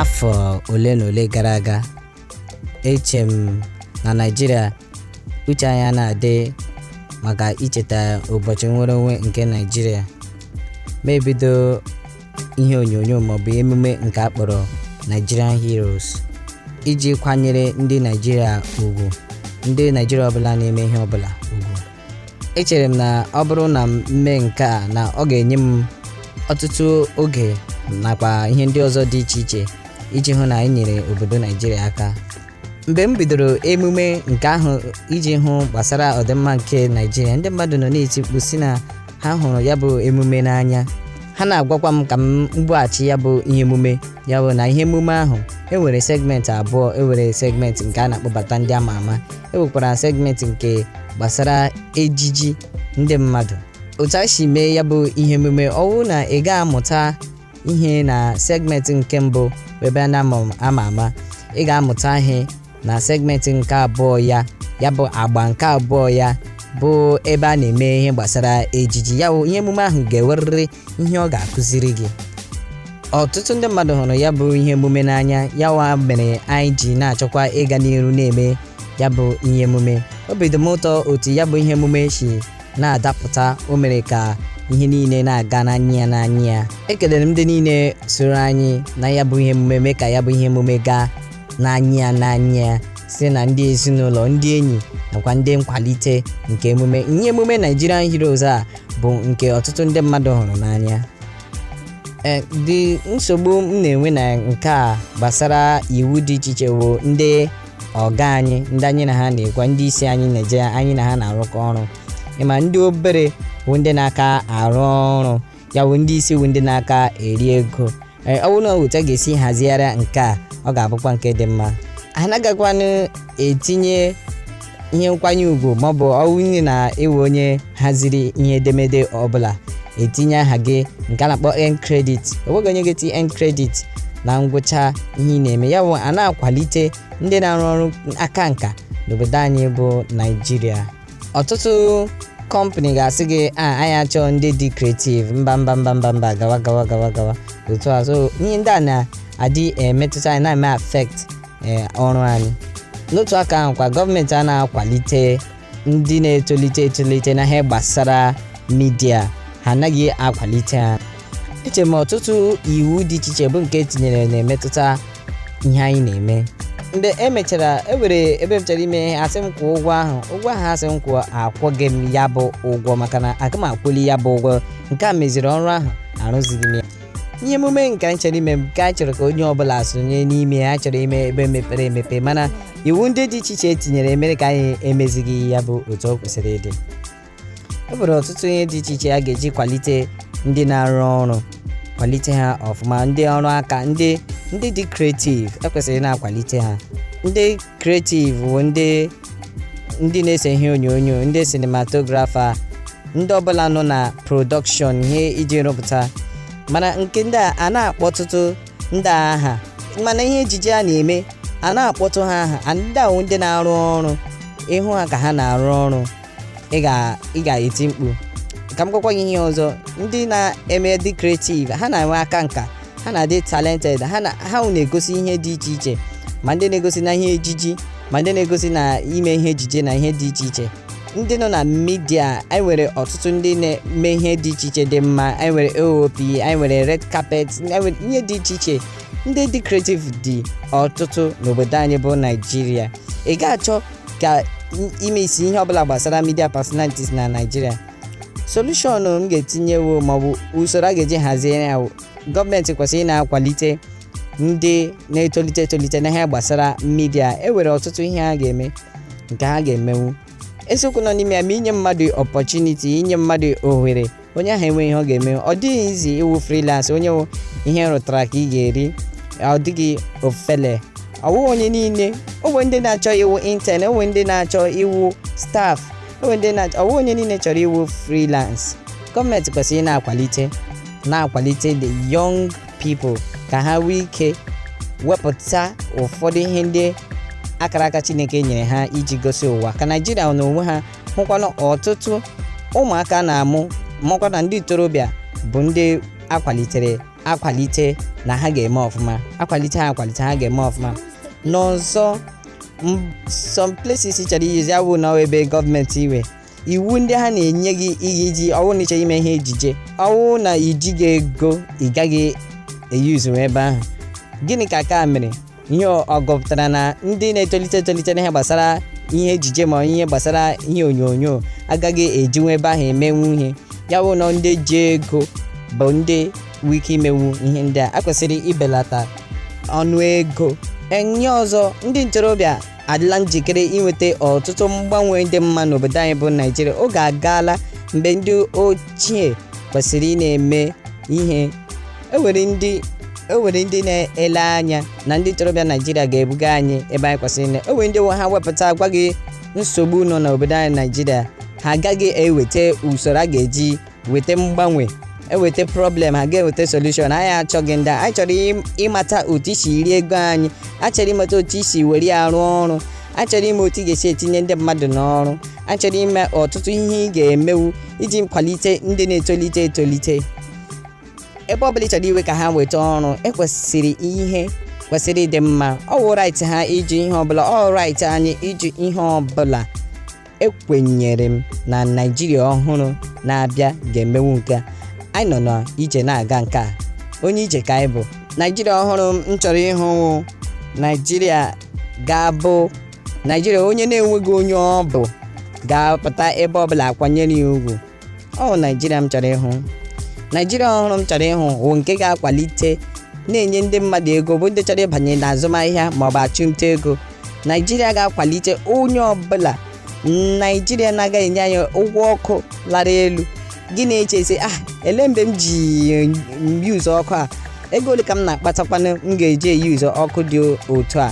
afọ ole na ole gara aga eche m na naijiria uche anyị ana-adị maka icheta ụbọchị nnwere onwe nke naijiria m ebido ihe onyonyo maọbụ emume nke a kpọrọ nigerian heroes iji kwanyere ndị naijiria ugwu ndị naijiria ọbụla na-eme ihe ọbụla echere m na ọ bụrụ na m mee nke a na ọ ga-enye m ọtụtụ oge nakwa ihe ndị ọzọ dị iche iche iji hụ na anyị nyere obodo naijiria aka mgbe m bidoro emume nke ahụ iji hụ gbasara ọdịmma nke naijiria ndị mmadụ nọ na-eti mkpu sị na ha hụrụ ya bụ emume n'anya ha na-agwakwa m ka m bughachi ya bụ ihe emume ya bụ na ihe emume ahụ enwere segment abụọ enwere segment nke a na-akpọbata ndị ama ama enwekwara segment nke gbasara ejiji ndị mmadụ otu a si mee ya bụ ihe emume ọ wụ na ị ga-amụta ihe na segment nke mbụ ebe a na-ama ama ị ga-amụta ihe na segment nke abụọ ya ya bụ agba nke abụọ ya bụ ebe a na-eme ihe gbasara ejiji ya bụ ihe emume ahụ ga-enwerịrị ihe ọ ga-akụziri gị ọtụtụ ndị mmadụ hụrụ ya bụ ihe emume n'anya ya wa mere anyị ji na-achọkwa ịga n'iru na-eme ya bụ ihe emume obi dị m ụtọ otu ya bụ ihe emume si na-adapụta o mere ka ihe niile na-aga n'anya ya n'anya ya ekelere m ndị niile soro anyị na ya bụ ihe emume mee ka ya bụ ihe emume gaa n'anya ya n'anya ya site na ndị ezinụlọ ndị enyi nakwa ndị nkwalite nke emume ihe emume Nigerian Heroes a bụ nke ọtụtụ ndị mmadụ hụrụ n'anya ụdị nsogbu m na-enwe na nke a gbasara iwu dị iche iche bụ ndị oga anyị ndị anyị na ha nakwa ndị isi anyị na-eje anyị na ha na-arụkọ ọrụ ị ma ndị obere bụ ndị na-aka arụ ọrụ ya bụ ndị isi wụ ndị na-aka eri ego ee ọ bụrụ na otu a ga-esi hazigharị nke a ọ ga-abụkwa nke dị mma anaghịkwanụ etinye ihe nkwanye ugwu maọbụ ọ wụrụ na ị wụ onye haziri ihe edemede ọbụla etinye aha gị nke a na-akpọ end credit enweghị onye ga-eti end credit na ngwụcha ihe ị na-eme ya bụ a na-akwalite ndị na-arụ ọrụ aka nka n'obodo anyị bụ naijiria ọtụtụ kọmpani ga-asị gị a anyị achọọ ndị dị creative mba mba mba mba mba gawa gawa gawa gawa otu a so ihe ndị a na-adị emetụta anyị na-eme affect eh, ọrụ anyị n'otu aka ahụ kwa gọọmenti a na-akwalite ndị na-etolite etolite na ihe gbasara media ha anaghị akwalite ha eche m ọtụtụ iwu dị iche iche bụ nke etinyere na-emetụta ihe anyị na-eme mgbe e mechara e nwere ebe m chọrọ ime ihe asị m kwụọ ụgwọ ụgwọ ahụ asị m kwụọ akwụghị m ya bụ ụgwọ maka na aga m akwụli ya bụ ụgwọ nke a meziri ọrụ ahụ arụzighị m ya ihe emume nke anyị chọrọ ime nke anyị chọrọ ka onye ọbụla sonye n'ime ya chọrọ ime ebe mepere emepe mana iwu ndị dị iche iche etinyere mere ka anyị emezighị ya bụ otu ọ kwesịrị ịdị e nwere ọtụtụ ihe dị iche iche a ga-eji kwalite ndị na-arụ ọrụ kwalite ha ọfụma ndị ọrụ aka ndị ndị dị kreativ ekwesịrị na-akwalite ha ndị kreativ bụ ndị ndị na-ese ihe onyonyo ndị sinematografa ndị ọbụla nọ na prọdọkshọn ihe iji rụpụta mana nke ndị a na-akpọ ọtụtụ ndị aha mana ihe ejije a na-eme a na-akpọtụ ha aha ndị ahụ ndị na-arụ ọrụ ị hụ ha ka ha na-arụ ọrụ ị ga- ị ga-eti mkpu ka m gwakwa gị ihe ọzọ ndị na-eme dị creative ha na-enwe aka nka ha na-adị talented ha na ha wụ na-egosi ihe dị iche iche ma ndị na-egosi na ihe ejiji ma ndị na-egosi na ime ihe ejije na ihe dị iche iche ndị nọ na midia anyị nwere ọtụtụ ndị na-eme ihe dị iche iche dị mma anyị nwere oap anyị nwere red carpet anyị nwere ihe dị iche iche ndị dị creative dị ọtụtụ n'obodo anyị bụ naijiria ị ga-achọ ka ime isi ihe ọbụla gbasara media personalities na naijiria solushọn m ga-etinyewo maọbụ usoro a ga-eji hazie ya gọọmenti kwesịrị ị na-akwalite ndị na-etolite etolite na ihe gbasara midia e nwere ọtụtụ ihe ha ga-eme nke ha ga-emenwu eziokwu nọ n'ime ya ma inye mmadụ ọpọchuniti inye mmadụ ohere onye ahụ enwee ihe ọ ga-eme ọ dịghị easy ịwụ freelance onye wụ ihe ị rụtara ka ị ga-eri ọ dịghị ofele ọwụ onye niile o nwe ndị na-achọ ịwụ intern o nwe ndị na-achọ ịwụ staff o nwe ndị na-achọ ọwụ onye niile chọrọ ịwụ freelance gọọmenti kwesịrị na-akwalite na-akwalite the young people ka ha nwee ike wepụta ụfọdụ ihe ndị akara aka chineke nyere ha iji gosi ụwa ka naijiria na onwe ha hụkwa na ọtụtụ ụmụaka a na-amụ makwa na ndị ntorobịa bụ ndị akwalitere akwalite na ha ga-eme ọfụma akwalite ha akwalite ha ga-eme ọfụma n'ọzọ some places chọrọ iyuzi awụ na ebe gọọmenti nwe iwu ndị ha na-enye gị ihe iji ọwụ na ịchọrọ ime ihe ejije ọwụ na ijighị ego ị gaghị eyuzu ebe ahụ gịnị ka ka mere ihe ọ gụpụtara na ndị na-etolite etolite n'ihe gbasara ihe ejije ma ihe gbasara ihe onyonyo agaghị ejinwu ebe ahụ emenwu ihe ya wụ na ndị ji ego bụ ndị nwee ike imenwu ihe ndị a akwesịrị ibelata ọnụ ego enye ọzọ ndị ntorobịa adịla njikere inweta ọtụtụ mgbanwe dị mma n'obodo anyị bụ naijiria oge agaala mgbe ndị ochie kwesịrị ịna-eme ihe e nwere ndị e nwere ndị na-ele anya na ndị ntorobịa naijiria ga-ebuga anyị ebe anyị kwesịrị ile o nwere ndị nwe ha wepụta gwa gị nsogbu nọ n'obodo anyị naijiria ha agaghị eweta usoro a ga-eji weta mgbanwe eweta problem ha ga-eweta solution anyị achọghị ndị anyị chọrọ ịmata otu i si eri ego anyị achọrọ ịmata otu i si were ya rụọ ọrụ achọrọ ịma otu ị ga-esi etinye ndị mmadụ n'ọrụ achọrọ ime ọtụtụ ihe ị ga-emewu iji kwalite ndị na-etolite etolite ebe ọ bụla ị chọrọ iwe ka ha weta ọrụ ekwesịrị ihe kwesịrị ịdị mma ọ wụ right ha iji ihe ọbụla ọ right anyị iji ihe ọbụla ekwenyere m na naijiria ọhụrụ na-abịa ga-emenwu nke a. anyị nọ na ije na-aga nke a onye ije ka anyị bụ naijiria ọhụrụ m chọrọ ịhụ wụ naijiria ga-abụ naijiria onye na-enweghị onye ọ bụ ga-apụta ebe ọbụla a kwanyere ya ugwu ọ naijiria m chọrọ ịhụ naijiria ọhụrụ m chọrọ ịhụ wụ nke ga-akwalite na-enye ndị mmadụ ego bụ ndị chọrọ ịbanye na azụmahịa maọbụ achụmnta ego naijiria ga-akwalite onye ọbụla naijiria na-agaghị enye anyị ụgwọ ọkụ lara elu gị na-echezi ah ele mgbe m ji yuzu ọkụ a ego ole ka m na-akpatakwanụ m ga-eji eyuzu ọkụ dị otu a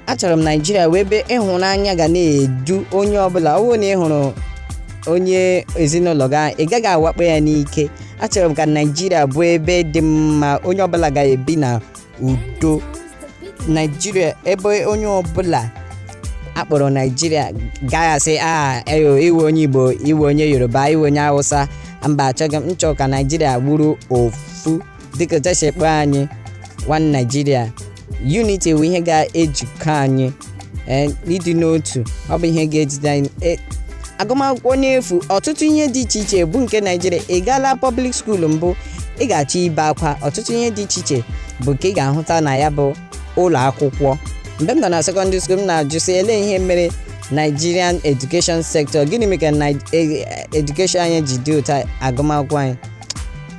achọrọ m naijiria wụ ebe ịhụnanya ga na-edu onye ọbụla ọ bụrụ na ị hụrụ onye ezinụlọ gị ahụ, ị gaghị awakpo ya n'ike achọrọ m ka naijiria bụ ebe dị mma onye ọbụla ga-ebi na udo naijiria ebe onye ọbụla akpọrọ naijiria gaghị asị a eyo ị wụ onye igbo ị wụ onye yoruba ị wụ onye hausa mba achọghị m m chọ ka naijiria bụrụ ofu dịka otu esi akpọ anyị one Nigeria unity bụ ihe ga-ejikọ anyị eh, ịdị n'otu ọ bụ ihe ga-ejide anyị eh, agụmakwụkwọ n'efu ọtụtụ ihe dị iche iche bụ nke naijiria ị gaala public school mbụ ị ga-achọ ibe akwa ọtụtụ ihe dị iche iche bụ nke ị ga-ahụta na ya bụ ụlọ akwụkwọ mgbe m nọ na secondary school m na-ajụ sị ele ihe mere Nigerian education sector gịnị mere ka e, e, education anyị ji dị otu a agụmakwụkwọ anyị